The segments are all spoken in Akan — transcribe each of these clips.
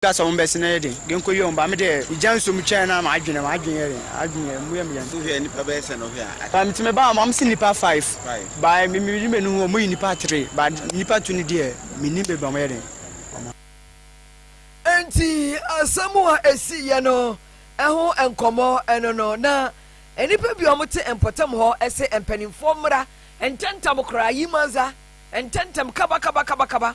Ka sɛ wɔn bɛsene yɛ den de nkɔyi wɔn ba. Me deɛ, megya nsuo mu twɛn na m'adwene, m'adwene yɛ den, adwene yɛ, emu yɛ me den. So hwɛ nnipa bɛyɛ sɛn na ɔhwɛ a? Ba mete me ba wɔn se nnipa five, Five. ba me me mede m'ani hu wɔn yi nnipa three, ba nnipa two no deɛ mennim baabi a wɔyɛ den, wɔn a. Enti asɛm a ɛsiiɛ no ho nkɔmmɔ no no na nnipa bi a wɔte mpɔtam hɔ se mpanimfoɔ mmra ntɛmntɛm koraa, Yimanza, ntɛmntɛm, kaba kaba kaba kaba.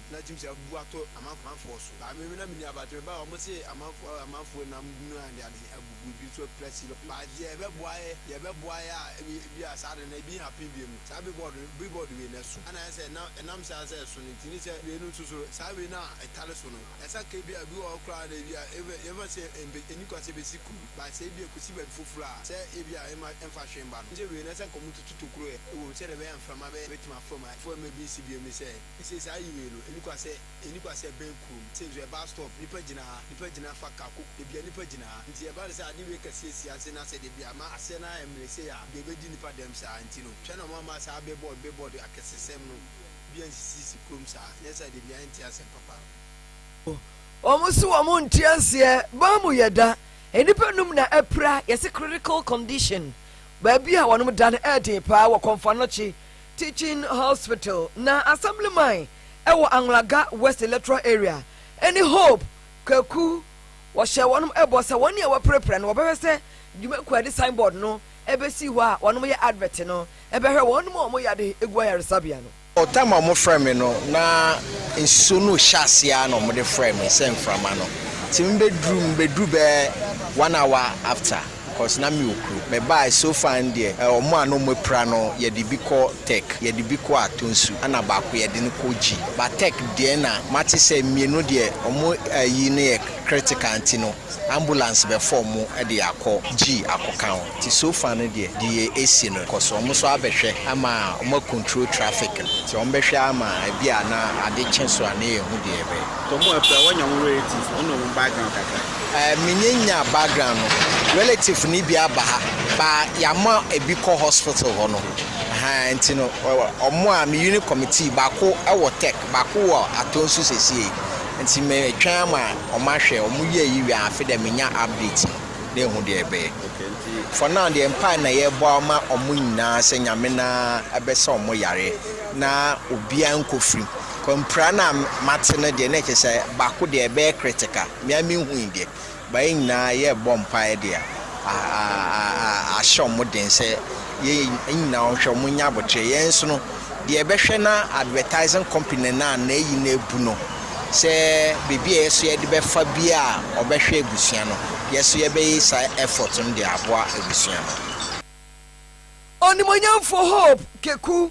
na atumi sɛ abubu ato amanfoɔ so. Baa me mu na me nuabaa te me ba a wɔn se amanfoɔ a amanfoɔ nam hunu a de ade abubu ebi nso apira si no baa deɛ ɛbɛboa yɛ deɛ ɛbɛboa yɛ a ebi ebi a saa de no ebi happen bio no saa billboard no billboard wei no ɛso ɛna ayɛ sɛ ɛna ɛnam saa sɛ ɛso no nti ne sɛ wei no nso so saa wei no a ɛtare so no ɛsa ka ebi a ebi wɔ hɔ koraa na ebi a yɛbɛ yɛbɛ sɛ ɛnbɛ ɛni kwan sɛ ɛbɛsi kuro no baa sɛ ebi a ɛkɔsi baabi foforɔ a sɛ ebi a ɛma ɛmfa hwee mma no ne sɛ wei no ɛsa ka wɔn tutu tokuro ɛ ɛwɔ mu sɛdeɛ ɛbɛyɛ a mframa bɛyɛ bɛtumi afam a ɛfam ebi nsi bio ne sɛ. Ese saa yiwei no, eni kwa sɛ, eni kwa sɛ ɛbɛn kurom, sei nso ɛbaa stɔɔf, nnipa gyina ha, nnipa gyina fa ka koko, baabi a nnipa gyina ha. Nti ɛba no sɛ ade wei kɛseɛ si ase na sɛdeɛ bi a ma aseɛ no ara ɛmmere sei a, deɛ ɛbɛdi nnipa dɛm saa nti no, hwɛ na wɔamma saa billboard, billboard akɛsesɛm no bi ansisisisi kurom saa, nyɛ saa deɛ bi a ɛnte asɛm papa. O, wɔn se wɔn nte aseɛ, ban mu yɛ da, nnipa nnum na apira, yɛse critical condition, baabi a wɔnom da no ɛɛden paa wɔ Kɔmfannɔkye. Teaching Hospital, na Assemblyman wɔ Anglagga West Electoral Area, ne Hope Kwaku. Wɔhyɛɛ wɔnom bɔ sɛ wɔn a wɔapirapira no wɔbɛhwɛ sɛ dwumakuo a yɛde sign board no bɛsi hɔ a wɔnom yɛ advert no bɛhwɛ wɔnom a wɔn yade gu ayaresabea no. Time a wɔfrɛɛ me no na nsuo no rehyɛ aseɛ ara na wɔde frɛɛ me sɛ mframa no nti mebɛduru mebɛduru bɛyɛ one hour after. cause na me okunu mebaaɛ so far no deɛ ɛ ɔmo a na ɔmo apira no yɛde bi kɔ tech yɛde bi kɔ atonsu ɛna baako yɛde no kɔ gyi but tech deɛ na mate sɛ mmienu deɛ ɔmo ayi no yɛ critical nti no ambulance bɛfa ɔmo de akɔ gyi akɔka ho nti so far no deɛ deɛ ɛsi no cause ɔmo nso abɛhwɛ ama ɔmo a control traffic no nti ɔmo bɛhwɛ ama ɛbi a na ade kye so a na yɛhu deɛ yɛbɛyɛ. Nti ɔmo apira wɔnya ɔmo relative ɔne ɔmo background kakra. eh, menye nya background no, relative no bi aba ha, ba yɛama ebi kɔ hospital hɔ no. Ahaa, nti no, ɔmo a me unit committee, baako wɔ tech, baako wɔ atɔ nso sesie. Nti metwɛn ama ɔmo ahwɛ, ɔmo yɛ yi wie afe dɛ menya update no, na ehu deɛ ɛbɛyɛ. For now deɛ mpae na yɛbɔ ama ɔmo nyinaa sɛ nyame na ɛbɛsɛ ɔmo yareɛ na obiara nkɔ firim. Kɔ mpira no a mate no deɛ na ɛkyɛ sɛ baako deɛ ɛbɛyɛ critical. me ara menhui deɛ but yɛn nyinaa yɛrebɔ mpaeɛ de a ahyɛ wɔn den sɛ yɛn nyinaa wɔnhwɛ wɔn nyɛ abotire yɛn nso no deɛ ɛbɛhwɛ na advertising company no a na ayi no abu no sɛ biribi a yɛ so yɛde bɛfa bi a ɔbɛhwɛ abusua no yɛ so yɛbɛyɛ saa effort no de aboa abusua no. Onimuonyamfo Hope Keku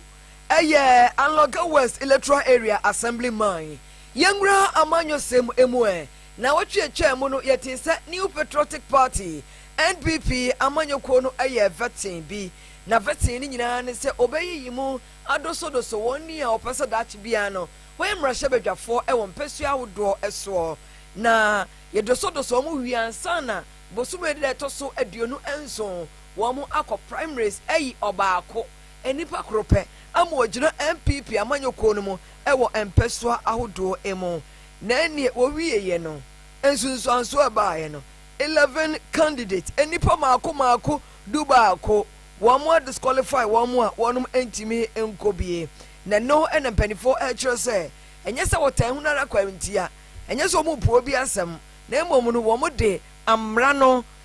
yɛ Anloga West Electoral Area Assemblyman. Yɛnwura amanyɔsɛm mu ɛ. Naawɔtwe a ɛtwaa mu no, yɛtee sɛ New Patriotic Party, NPP, amanyɔkuo no yɛɛ vetting bi. Na vetting no nyinaa ne sɛ wɔbɛyiyi mu adosodoso wɔn ni a wɔpɛ sɛ daakye biara no wɔyɛ mmarahyɛbadwafoɔ wɔ mpɛsoa ahodoɔ soɔ na yɛdosodosɔ wɔn wie ansa na bosome da a ɛtɔ so aduonu nson wɔn akɔ primaries ayi ɔbaako Nipa koro pɛ ama ɔgyina NPP amanyɔkuo no mu wɔ mpɛsoa ahodoɔ mu. Na ɛnneɛ wɔwieeɛ no, nsunsuansoɔ a ɛbaeɛ no, eleven candidates, nnipa mmaako mmaako du baako, wɔn a disqualify wɔn a wɔnom ntumi nkɔ bie. Na ɛno na mpaninfoɔ rekyerɛ sɛ ɛnyɛ sɛ wɔtaa hunu ara kwa ntia, ɛnyɛ sɛ wɔrepue obi asɛm, na mmom no wɔde amena no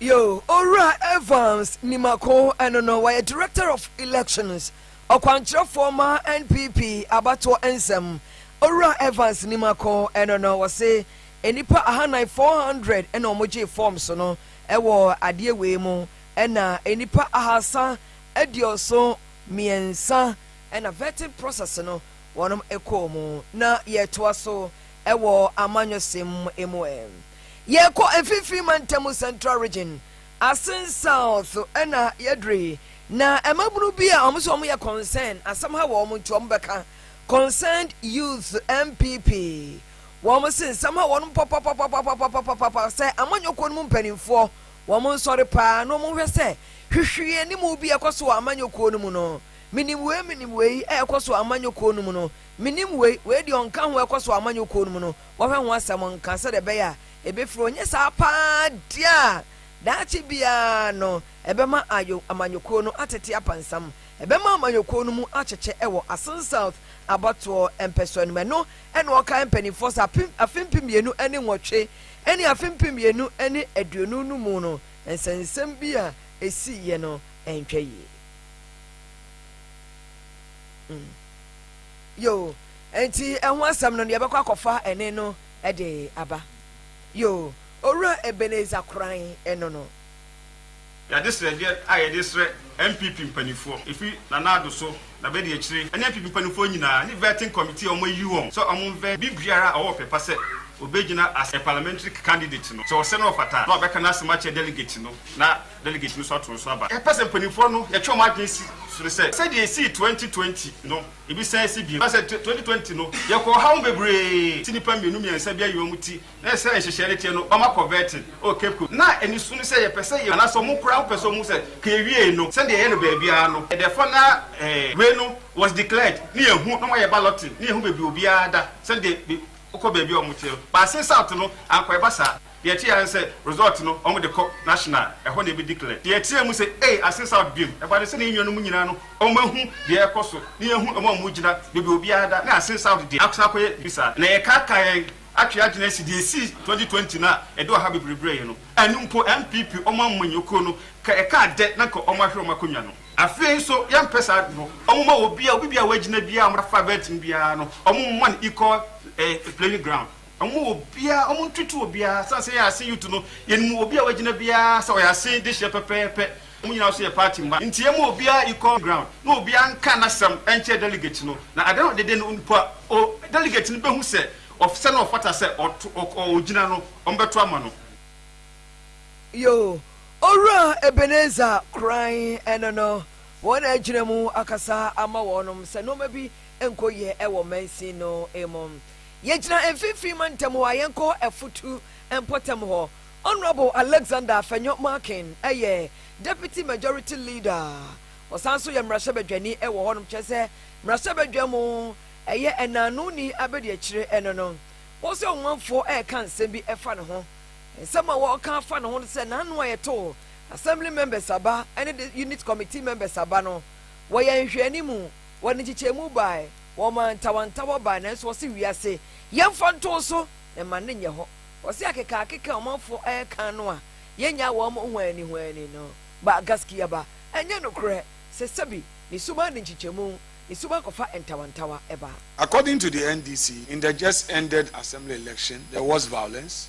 Yo, Owura Evans Nimako, ɛno no, wɔyɛ Director of Elections, ɔkwankyerɛfoɔ ma NPP abatoɔ nsɛm. Owura Evans Nimako, ɛno no, wɔse nnipa ahanan, 400, ɛna wɔgyee forms no wɔ adeɛ wei mu, ɛna nnipa ahaasa aduoso mmiɛnsa ɛna vetting process no wɔnom kɔɔ mu. Na yɛtoa so. wɔ amanyɔsɛm mu ɛ. Yɛkɔ Mfimfini Mantam, Central Region, asen South na yɛdure na mmabunu bi a wɔn nso wɔyɛ Concern, asɛm ha wɔ wɔn nti wɔn bɛka, Concerned Youth, NPP, wɔn se nsɛm ha wɔ wɔn papapapapapapapapa sɛ amanyɔkuo no mu mpanimfoɔ wɔn nsɔre paa na wɔn nhwɛ sɛ hwehwee anim bi ɛkɔ so wɔ amanyɔkuo no mu no. Menim wei menim wei a ɛkɔ so wɔ amanyɔkuo no mu no. Menim wei, wei deɛ ɔnka ho ɛkɔ so amanyɔ kuo no mu no wɔhwɛ ho asɛm nka sɛdeɛ ɛbɛyɛ a ɛbɛfiri hɔ nyɛ saa paa deɛ a daakye biara no ɛbɛma ayo amanyɔ kuo no atete apansam ɛbɛma amanyɔ kuo no mu akyekyɛ ɛwɔ Asin South abatoɔ mpɛsoa no mu ɛno na ɔkae mpaninfoɔ sɛ ape afe mpem mmienu ne nwɔtwe ne afe mpem mmienu ne aduonu no mu no nsɛnsɛm bi a ɛsiiɛ no ɛntwa yie. yoo ɛnti ɛho asɛm no yɛbɛkɔ akɔfa ɛne no ɛde aba yoo owura Ebenezer koran ɛno no. Yɛade srɛdeɛ a yɛde srɛ NPP mpanifoɔ ɛfiri Nana Addo so na bɛdi akyire ɛne NPP mpanifoɔ nyinaa ne vetting committee a wɔn ayi wɔn sɛ wɔn mvɛ bi biara a ɔwɔ ɔpɛ pa sɛ ɔbɛgyina as a parliamentary candidate no sɛ ɔsɛ na ɔfata na ɔbɛka n'asɛm akyerɛ delegate no na delegate no nso ato nso aba. Yɛpɛ sɛ mpaninfoɔ no yɛtwe wɔn adwene si so no sɛ, sɛdeɛ yɛsii twenty twenty no, yɛbɛsan asi bio. Woahu sɛ twenty twenty no yɛkɔɔ ɔhaw mu bebree, te nnipa mmienu mmiɛnsa bi ayi wɔn ti, na sɛdeɛ nhyehyɛeɛ no teɛ no wɔn akɔ vetting wɔ Cape Coast. Na aniso no sɛ yɛpɛ sɛ yɛhu, anaasɛ wɔn koraa pɛ sɛ wɔhu sɛ ka yɛwiee no, sɛdeɛ yɛyɛ no baabiara no, yɛdɛfa na wei no was declared, na yɛhu, na wɔayɛ balloting, na yɛhu baabi a obiara da, sɛdeɛ wokɔ baabi a wɔteɛ no. But Assin South no, anka ɛba saa. Deɛ ɛteɛ ara ne sɛ result no wɔn de kɔ national ɛhɔ na yɛbɛ declare. Deɛ ɛteɛ mu sɛ ei asen south biom ɛba ne sɛ ne yɛn nuanom nyinaa no wɔn ahu deɛ ɛrekɔ so ne yɛn hu wɔn a wɔn gyina baabi a obiara da ne asen south deɛ asan akɔ yɛ biribi saa na yɛkaakaa yɛn atwe adwene asi deɛ ɛsii twenty twenty no a ɛde ɔhaw bebree brɛɛ yɛn no ɛno mpo NPP wɔn amanyɔ kuo no ka ɛkaa dɛ na nka wɔn ahwere wɔn akonnwa no. Afei nso yɛmpɛ saa ade no wɔn mma obiara obi biara a wagyina biara wɔn afa bɛɛten biara no wɔn mma no equal eh playing ground. Wɔma obiara, wɔn ntutu obiara. Sɛ sɛ yɛ asen yutu no, yɛnim obi a wagyina biara sɛ ɔyɛ asen de hyɛ pɛpɛɛpɛ. Wɔn nyinaa nso yɛ party mma. Nti yɛma obiara equal ground na obiara nka n'asɛm nkyerɛ delegate no. Na adeɛ no ɔdede no nipa o, delegate no bɛhu sɛ ɔf sɛ na ɔfata sɛ ɔto ɔk ɔ ɔgyina no, wɔbɛto ama no. Yoo, Owura Ebenezer Kran ɛno no, wɔn na agyina mu akasa ama wɔnom sɛ nnoɔma bi nkɔ yie wɔ mansin no mu. Yɛgyina mfimfini mantam hɔ a yɛnkɔ afutu mpɔtam hɔ. Honourable Alexander Afenyo Markin yɛ Deputy Majority Leader. Ɔsan nso yɛ mmarahyɛbadwani wɔ hɔnom, kyerɛ sɛ mmarahyɛbadwa mu ɛyɛ ɛnaanoni abadiakyire no no. Ɔse ɔmanfoɔ reka nsɛm bi fa ne ho. Nsɛm a wɔreka afa ne ho no sɛ n'ano a yɛtoo Assembly members aba ne de unit committee members aba no wɔyɛ nhwɛanimu, wɔde nkyekyɛmu bae. Wɔmaa ntawantawa bae nanso wɔse wiase yɛmfa ntow so mma no nyɛ hɔ. Wɔse akekaakeka a ɔmanfo reka no a yennyaa wɔn huannihuanni no ba Gaskiya ba, ɛnyɛ nokorɛ sɛ sɛbi ne suban de nkyekyɛmu ne suban kɔfa ntawantawa ba. According to the NDC, in the just ended assembly election there was violence.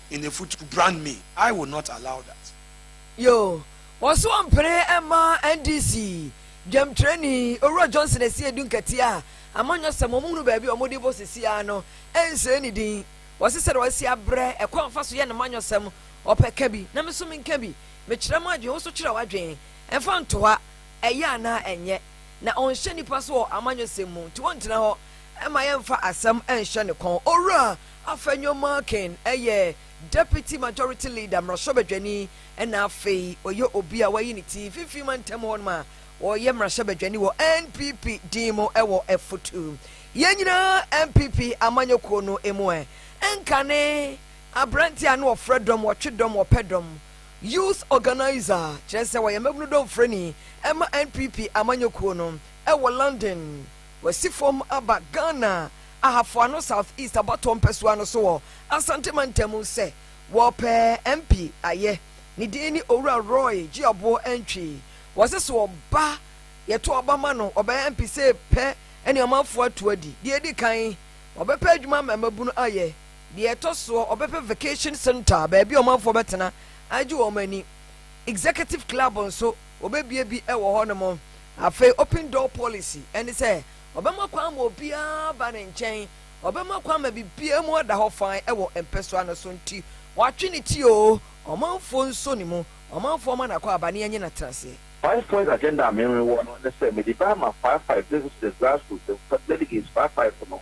in a foot to brand me, I will not allow that. Yoo, wɔso ɔmpene mma NDC dwamtrani Owura Johnson Asiedu nkɛteɛ a amanyɔsɛm wɔn hunu baabi a wɔn de bɔ sisi ara no nsere ne din. Wɔse sɛdeɛ wɔasi abrɛ ɛkwan a wɔfa so yɛ no manyɔsɛm, ɔpɛ ka bi na me nso menka bi, mekyerɛ m'adwene, wo nso twerɛ w'adwene, ɛmfa ntoa ɛyɛ anaa ɛnyɛ, na ɔnhyɛ nnipa so wɔ amanyɔsɛm mu, nti wɔntena hɔ mma yɛmfa asɛm nhyɛ ne kɔn. Owura. Afenyo Markin yɛ Deputy Majority Leader, mmarahyɛbadwani, ɛna afei ɔyɛ obi a wɔayi ne ti mfimfini mantam hɔnom a ɔyɛ mmarahyɛbadwani wɔ NPP din mu wɔ Ɛfutu. Yɛn nyinaa NPP amanyɔkuo no mu ɛ. Nkane aberanteɛ a na ɔfrɛ dɔm, ɔtwe dɔm, ɔpɛ dɔm. Youth Organiser, kyerɛ sɛ ɔyɛ mmabunu dɔmfrɛni ma NPP amanyɔkuo no wɔ London. Wasi fam aba Ghana Ahafo Ano South East abatoɔ mpɛsoa no so wɔ Asante Mantam mu sɛ wɔrepɛ MP ayɛ. Ne din ne Owura Roy Gyeaboɔ Antwi. Wɔse sɛ ɔba, yɛto aba ma no, ɔbɛyɛ MP sɛ pɛ ne ɔmanfoɔ ato adi. Deɛ ɛdi kan, ɔbɛpɛ adwuma ama mmabunu ayɛ. Deɛ ɛtɔ soɔ, ɔbɛpɛ vacation centre, baabi a ɔmanfoɔ bɛtena agye wɔn ani. Executive Club nso. Wɔbɛbue bi wɔ hɔnom. Afei open door policy, ɛne sɛ ɔbɛma kwan ma obiara ba ne nkyɛn, ɔbɛma kwan ma biribiara mu ada hɔ fann wɔ mpɛsoa no so nti watwe ne ti oo, ɔmanfoɔ nsɔ ne mu, ɔmanfoɔ mma no akwaaba na yɛnyɛ no atenaseɛ. Five points agenda a me wɔ no ne sɛ mede bɛama five five ne sɛ grassroots delegates five five no.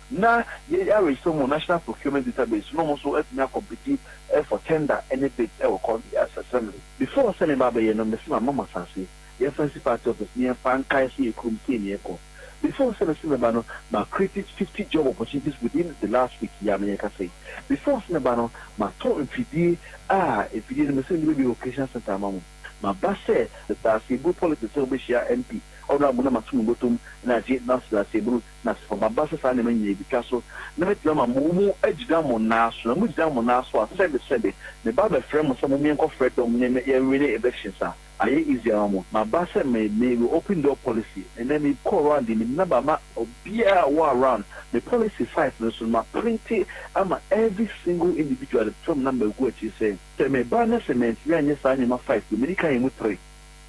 Na yɛn awerehyɛmu wɔ National Procurement Database no wɔn nso atumi akɔmpiti for tender ne bids wɔ Congress Assembly. Before sɛ meba abɛyɛ no mese mama mo asase yɛnsan nsi party office na yɛmfa nkae sɛ yɛ kurom sei na yɛkɔ. Before sɛ mese meba no ma create fifty job opportunities within the last week yi a me ne rekasa yi. Before sɛ meba no matɔ mfidie a mfidie no mese mede bɛbue vocational centre ama mo. Maba sɛ Daseɛburu politics sɛ wobɛhyia MP Ɔbra Muna mato mo bɔtɔm na agye Nurse Daseɛburu. Na sɛ ɔbaba sɛ saa nneɛma nyinaa rebetwa so, na metumi ama mo mu agyina mo nan so, na mugyina mo nan so a, sɛbe, sɛbe, me ba bɛfrɛ mo sɛ mo menkɔ frɛ dɔm ne me yɛnwene elections a, ayɛ easy ama mo. Maba sɛ me, me re open door policy. Ɛnnɛ me kɔ around de me number ama obiara a ɔwɔ around, me policy site no so no ma printe ama every single individual de to fam na magu akyiri sɛ, sɛ me ba na sɛ mantumi anyɛ saa nneɛma five no, medi kan yɛ mu three.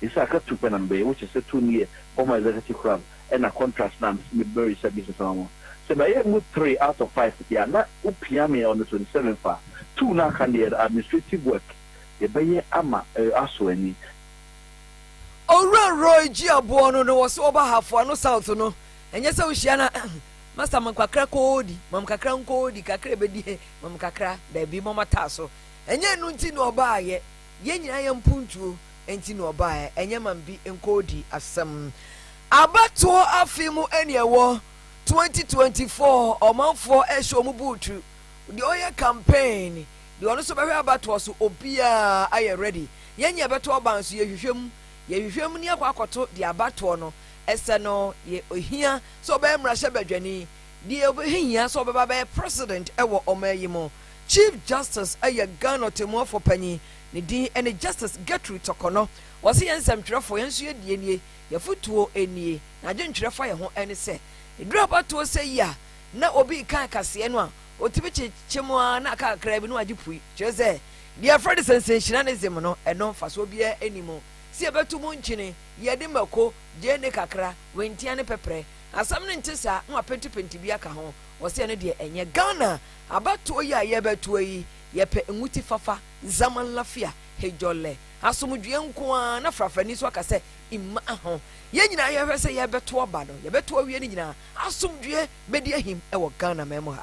They say aka tu pɛ na me bɛyɛ which is sɛ tu no yɛ former executive club ɛna contract no a me se me bɛ register business ama mo. Sɛ mɛ yɛ mu three out of five deɛ a na wo pia me on the twenty seven fa tu no aka deɛ no administrative work yɛ bɛ yɛ ama eh aso ani. Owura Roy Jiaboɔ no na ɔwɔ so ɔba ha Foano South no ɛnyɛ sɛ wohyia no a Master mam kakra koodi mam kakra nkoodi kakra ɛbɛdi he mam kakra daabi mɔmɔtaa so ɛnyɛ ɛno nti na ɔbaayɛ Yɛn nyinaa yɛ mpuntuo nti na ɔbaeɛ, ɛnyɛ ma bi nkɔɔdi asɛm. Abatoɔ afe mu ɛne ɛwɔ, 2024, ɔmanfoɔ ɛhyɛ ɔmo buutu, deɛ ɔyɛ campaign, deɛ ɔno nso bɛhwɛ abatoɔ so, obiara ayɛ ready. Yɛn nyɛ bɛto ɔba nso yɛhwehwɛ mu, yɛhwehwɛ mu ne akɔ akɔto deɛ abatoɔ no ɛsɛ no, yɛ ohia sɛ ɔbɛyɛ mmarahyɛbadwani, Deɛ ɔbɛhia sɛ ɔbɛba abɛyɛ President wɔ ɔman yi mu, Chief Justice yɛ Ghana Ɔtemmuafoɔ Panyin, ne din ne Justice Gertrude Torkornɔ. Ɔse, Yɛn nsɛmtwerɛfoɔ, yɛn nso yɛn deɛ nie, yɛn afotuo nie, na adwentwerɛ fa yɛn ho ne sɛ, ɛduru abatoɔ sɛ yi a, na obi reka akaseɛ no a, ɔtumi kyekyɛ mu ara na aka kakraa bi na wagye pue. Kyerɛ sɛ, deɛ yɛfrɛ no sensationalism no, ɛno mfasoɔ biara nni mu. Sɛ yɛbɛto mu nkyene, yɛde mako, gyeene kakra, wentia ne pɛprɛ, Asɛm no nte saa na wapentipenti bi aka ho, ɔse ɛno deɛ ɛnyɛ Ghana abatoɔ yi a yɛrebɛtoɔ yi, yɛpɛ nwuti fafa, zaman lafia, hejɔlɛ, asomdwoeɛ nko ara, na frafrani nso aka sɛ mma ho. Yɛn nyinaa yɛhwɛ sɛ yɛrebɛtoɔ ba no, yɛbɛtoɔ awie no nyinaa asomdwoeɛ bɛdi ahim wɔ Ghanaman mu ha.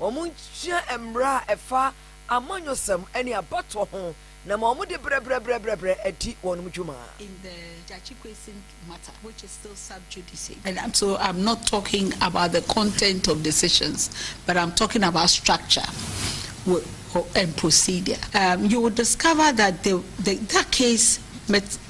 Wɔnsua mmara a ɛfa amanyɔsɛm ne abatoɔ ho na ma wɔde brɛbrɛbrɛbrɛbrɛ adi wɔn dwuma. in the Gyakye Quayson matter which is still sub judice and I'm so I'm not talking about the content of decisions but I'm talking about structure and procedure um you will discover that the the that case met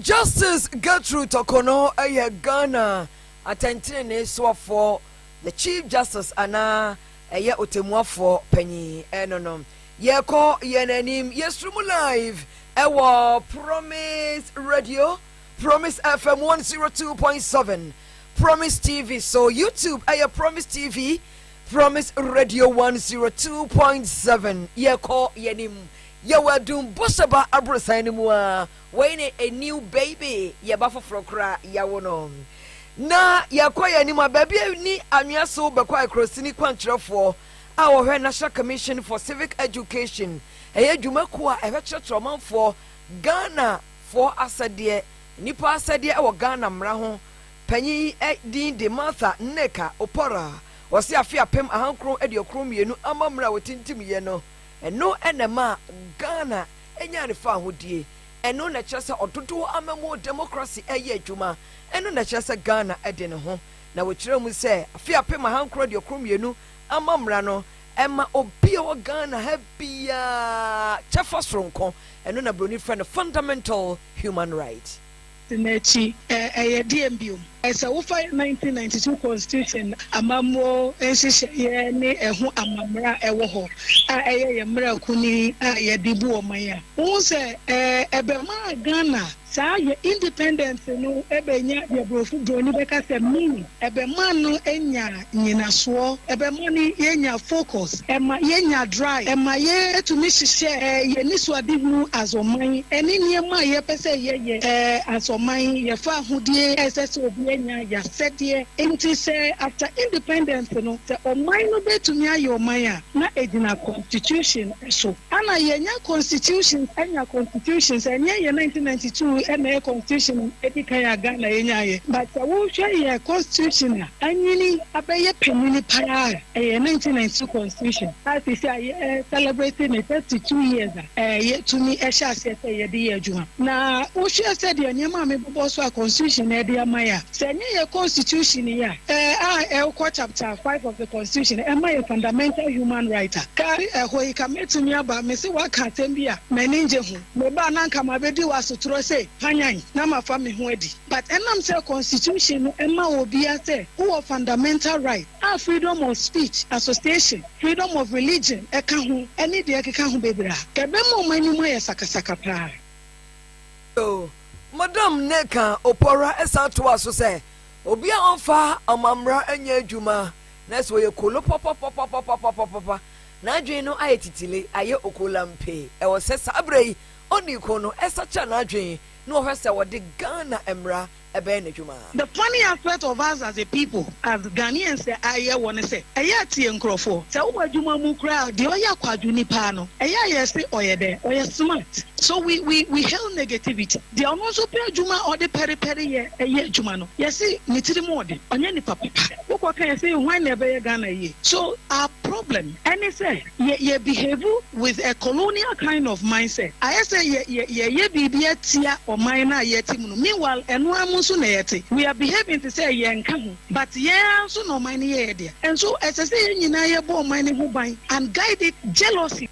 Justice Gertrude Torkornoo yɛ Ghana atɛntenenee soafoɔ, the Chief Justice anaa ɛyɛ Ɔtɛmmuafoɔ panyin ɛno no. Yɛrekɔ yɛn anim, yɛsoro mu live ɛwɔ Promise Radio, Promise FM 102.7, Promise TV so, YouTube ɛyɛ Promise TV, Promise Radio 102.7. Yɛrekɔ yɛn anim. Yɛwɔ adum bɔhyɛ ba aborosan no mu ara, wei ne a new baby, yɛ ba foforɔ koraa, yɛawo no. Na yɛrekɔ yɛn anim a, baabi a ɛnni anwea so bɛkɔ Akorɔsini kwankyerɛfoɔ a ɔhwɛ National Commission for Civic Education, ɛyɛ dwumakuo a ɛhwɛ kyerɛkyerɛ ɔmanfoɔ Ghanafoɔ asɛdeɛ, nnipa asɛdeɛ wɔ Ghana mmara ho, panyin din de Martha Nneka Oporah, ɔse afe apem ahankron aduokron mmienu amammerɛ a wɔtintimyɛ no, Ɛno na ɛmaa Ghana nyaa ne fawohodie. Ɛno na ɛkyerɛ sɛ ɔdodoɔ amammuo democracy reyɛ adwuma. Ɛno na ɛkyerɛ sɛ Ghana de ne ho. Na wɔkyerɛɛ mu sɛ afe apem ahankron aduokron mmienu amammerɛ no ma obi a ɔwɔ Ghana ha biara kyɛfa soronko. Ɛno na buroni frɛ no fundamental human right. Tena akyi, Ɛyɛ deɛn bio? Sɛ wofa 1992 Constitution amammuo nhyehyɛeɛ ne ɛho amammara a ɛwɔ hɔ a ɛyɛ yɛn mmara kuni a yɛde bu ɔman a, wohu sɛ ɛbɛmaa Ghana saa yɛn independence no bɛnya deɛ borɔfo, borɔni bɛka sɛ meaning, ɛbɛmaa no anya. nyinasoɔ, ɛbɛma no yɛnya focus, ɛma yɛnya drive, ɛma yɛ tumi hyehyɛ yɛ anisoadehunu as ɔman ɛne nneɛma a yɛpɛ sɛ yɛyɛ as ɔman, yɛfa ahodie a ɛsɛ sɛ obiara nya, yɛasɛdeɛ. Nti sɛ after independence no sɛ ɔman no bɛtumi ayɛ ɔman a na ɛgyina constitution, so. Ana yɛnya constitution anya constitutions ɛnyɛ yɛ nineteen ninety two na ɛyɛ constitution edi kan a Ghana yɛ nya yɛ but sɛ wo hwɛ yɛ constitution a anyini abɛyɛ panyini paa a ɛyɛ nineteen ninety two constitution a sisi a yɛ celebrate ne thirty two years a yɛ tumi ɛhyɛ aseɛ sɛ yɛ de yɛ adwuma na wo hwɛ sɛ deɛ nneɛma a mebobɔ so a constitution na ɛde ama yɛ a sɛ ɛnyɛ yɛ constitution yi a Ɛɛ a ɛwkɔ chapter five of the constitution ɛma yɛ fundamental human right a. Kari ɛhɔ yi ka mɛtumi aba me se waka asɛm bi a m'ani ngye ho. Me ba na nka mabɛdi wo asotorɔ se panyan na mafa me ho adi but ɛnam sɛ constitution no ɛma obia sɛ wowɔ fundamental right a freedom of speech, association, freedom of religion ɛka ho ɛne deɛ ɛkeka ho bebre a ɛbɛma ɔmo anim ayɛ sakasaka paa. Madam Neka Opoara san toa so sɛ, Obi a ɔmfa ɔmammara nyɛ adwuma na sɛ ɔyɛ kolo papapapapapapapapa, n'adwene no ayɛ titile, ayɛ okolampe. Ɛwɔ sɛ saa berɛ yi ɔnii ko no sakyera n'adwene na ɔhwɛ sɛ ɔde Ghana mmara bɛyɛ n'adwuma. The funny aspect of us as a people, as Ghanaians sɛ a yɛ wɔ ne sɛ, ɛyɛ a tie nkorɔfoɔ. Sɛ wo wɔ adwuma mu koraa a, deɛ ɔyɛ akwadwo ni paa no, ɛyɛ a yɛ se ɔyɛ dɛn? Ɔyɛ smart. So we we we hail negativity. Deɛ ɔno nso pɛ adwuma a ɔde pɛrepɛre yɛ yɛ adwuma no, yɛse ne tiri mu ɔde, ɔnyɛ nipa papa. Wokɔ ka yɛse hwan na ɛbɛyɛ Ghana yie? So our problem ɛne sɛ yɛ yɛ behave with a colonial kind of mindset. Ayɛ sɛ yɛ yɛ yɛyɛ biribi atia ɔman no a yɛte mu no, meanwhile ɛno ara mu nso na yɛte. We are behaving te sɛ yɛnka ho but yɛn ara nso na ɔman no yɛ yɛ dea. And so ɛsɛ sɛ yɛn nyinaa yɛbɔ ɔman no ho ban and guide it jealously.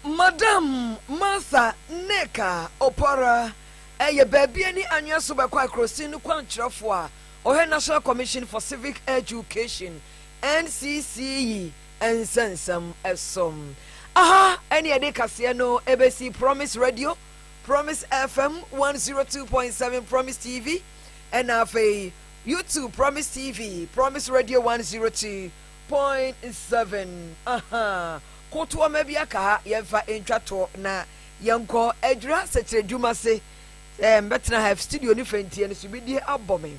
Madam Mansa ne Ka Opɔra yɛ baabi ani anwea so bɛkɔ akrosin no kwankyerɛfo a ɔhwɛ National Commission for Civic Education, NCC, yi nsɛnsɛm so. Aha ne yɛde kaseɛ no bɛsi Promise Radio, Promise FM 102.7, Promise TV, ɛna afei YouTube Promise TV, Promise Radio 102. Point seven, Ahaa, kotoɔma bi aka ha, yɛmfa ntwa toɔ na yɛnkɔ adwiri asɛkyerɛdwuma se. Sɛ mbɛtena ha, studio ne fɛnteɛ no sumidie abɔ me.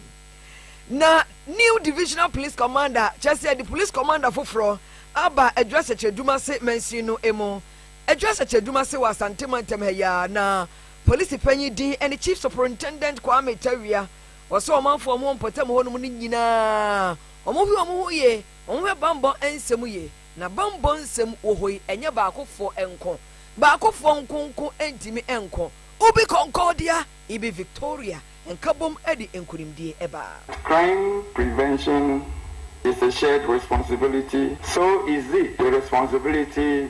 Na new divisional police commander, kyerɛ sɛ yɛde police commander foforɔ aba adwiri asɛkyerɛdwuma se mansin no mu. Adwiri asɛkyerɛdwuma se wɔ Asante mantam ha yi ara, na polisi panyin din ne Chief Superintendent Kwame Tawia Wɔsɔ wɔn manfoɔ mu wɔ mpɔtam hɔ nom no nyina ara, wɔhwe wɔn ho yie, wɔhwɛ banbɔ nsɛm yie, na banbɔ nsɛm wɔ hɔ yi ɛnyɛ baakofoɔ nko, baakofoɔ nko nko ntumi nko, Ubi Concordia, Ibi Victoria, nkabom de nkunimdie ba. Crime prevention is a shared responsibility, so is it the responsibility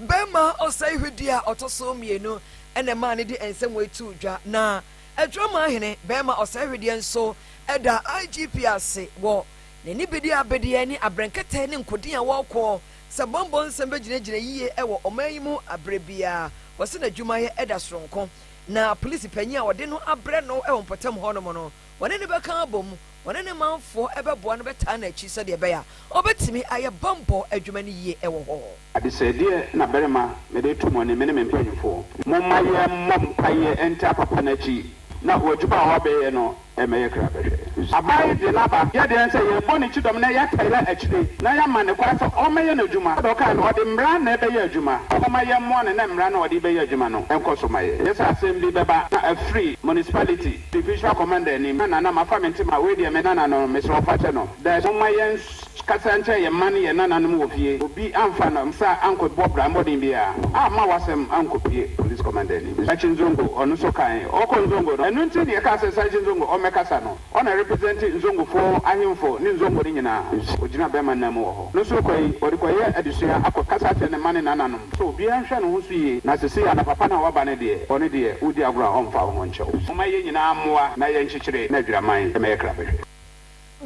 Bɛmma ɔsɛe hwɛdi a ɔtɔ so mmienu na ɛmaa ne de nsɛmwei too dwa, na Adwamahene bɛmma ɔsɛe hwedeɛ nso da IGP ase wɔ n'anibedeɛabedeɛ ne abrɛnkɛtɛ ne nkoden a wɔkɔ sɛ bɔmbɔ nsɛm bɛgyinagyina yie wɔ ɔman yi mu aberɛ biara. Wɔse n'adwumayɛ da soronko na polisi panyin a wɔde no abrɛ no wɔ mpɔtam hɔnom no, wɔne no bɛka abom, wɔne ne manfoɔ bɛboa no bɛtaa n'akyi sɛdeɛ ɛbɛyɛ a ɔbɛtumi ayɛ bammɔ adwuma no yie wɔ hɔ. Adesɛedeɛ na barima mede reto mo anim, me ne me mpanimfoɔ. Momma yɛmmɔ mpaeɛ ntaa papa no akyi na w'adwuma a wabɛyɛ no mmɛyɛ krabɛhwɛ. Aban yi de n'aba, yɛ deɛn sɛ yɛbɔ ne kyidɔm na yɛtaa yɛ akyire na yɛama no kwan sɛ ɔmmɛyɛ n'adwuma. Sɛdeɛ ɔkaeɛ no, ɔde mmara na ɛbɛyɛ adwuma. Momma yɛmmoa no na mmara no a ɔde rebɛyɛ adwuma no nkɔ so ma yɛ. Yɛ sɛ asɛm bi bɛba na afiri municipality. Division commander ni ma nana mafa me ntema wei deɛ me nana no mesrɛ wo fakyɛ no dash momma yɛn kasa nkyɛ yɛn mma ne yɛn nana nom wɔ fie obi amfa no nsa ankɔ bɔ bra mmɔden biaa amma wasɛm ankɔ pie police commander ni Sakyi Nzongo ɔno nso kae ɔkɔ Nzongo no ɛno nti ne yɛkaa sɛ Sakyi Nzongo ɔmmɛkasa no ɔna represent Nzongofoɔ ahemfo ne Nzongo no nyinaa ɔgyina bɛma nan mu wɔ. No sorokɔ yi, ɔde kɔyɛ adesua akɔ kasa akyerɛ ne mma ne nananom. So obiara nhwɛ ne ho so yie? Na sesei ana papa no a waba no deɛ, ɔno deɛ, wodi agorɔ a ɔmfa wo ho nkyɛ wo? Momma yɛn nyinaa mmoa na yɛnkyekyere n'adwiraman ma ɛyɛ krabɛhwɛ.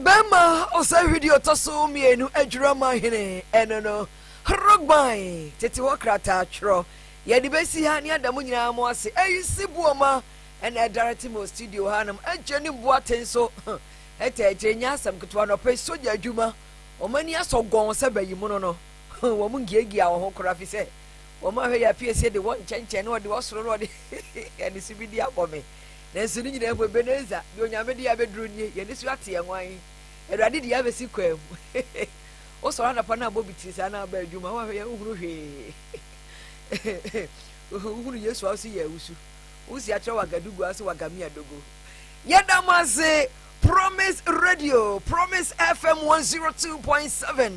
Bɛma ɔsɛe hwidi ɔtɔ so mmienu adwiraman hene, ɛno no, Rogban, tete hɔ krataa twerɛ. Yɛde bɛsi ha ne ada mo nyinaa mo ase. Ayisi Buoma na ɛdare te mo studio hanom. Agyenim Boateng nso taa kyerɛ, ɛnyɛ asɛm ketewa na ɔpɛ, sogya adwuma. wɔn ani asɔ gɔnn sɛ bayimono no, wɔn ngiagyiaa wɔn ho koraa, ɛfiri sɛ wɔn ahwɛ yɛ apiesie de wɔn nkyɛnkyɛn ne wɔde wɔn soro ne wɔde aniso bi de abɔ me. Nanso ne nyinaa mu, Ebenezer, deɛ Onyame de abɛduru nie, yɛn ani so ate yɛn ho ahe? Awurade de yɛn abɛsi kwan mu. Wosɔre anapa na abɔ bitiri saa na aba adwuma, woahwɛ yɛ wohunu hwee. Wohunu Yesu a ɔse yɛ awusu. Wosi akyerɛ wagadu gua ɔse wagamia dogo. Yɛda mo ase. Promise Radio, Promise FM 102.7,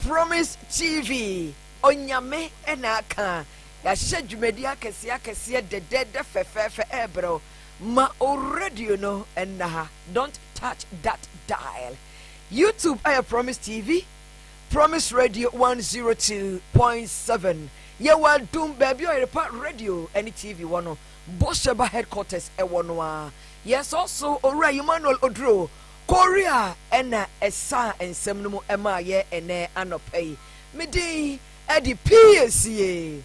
Promise TV, Onyame na aka. Yɛahyɛ dwumadi akɛseɛ akɛseɛ dɛdɛɛdɛ fɛfɛɛfɛ ɛrebrɛ wo. Ma o radio no nna ha. Don't touch that dial. YouTube ayɛ Promise TV, Promise Radio 102.7. Yɛwɔ adum baabi a ɔyerepa radio ne TV wɔ no. Bosheba headquarters ɛwɔ no a. Yɛ sɔɔ so Owura Emmanuel Oduro Kori a ɛna ɛsaa nsɛm no mu ɛmaa yɛ ɛnɛ anɔpa yi. Me din ɛde Piesie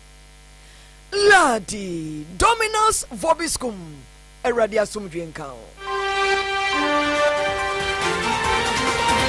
Ladi Dominus Vobiscum. Awurade asomdwie nka wo.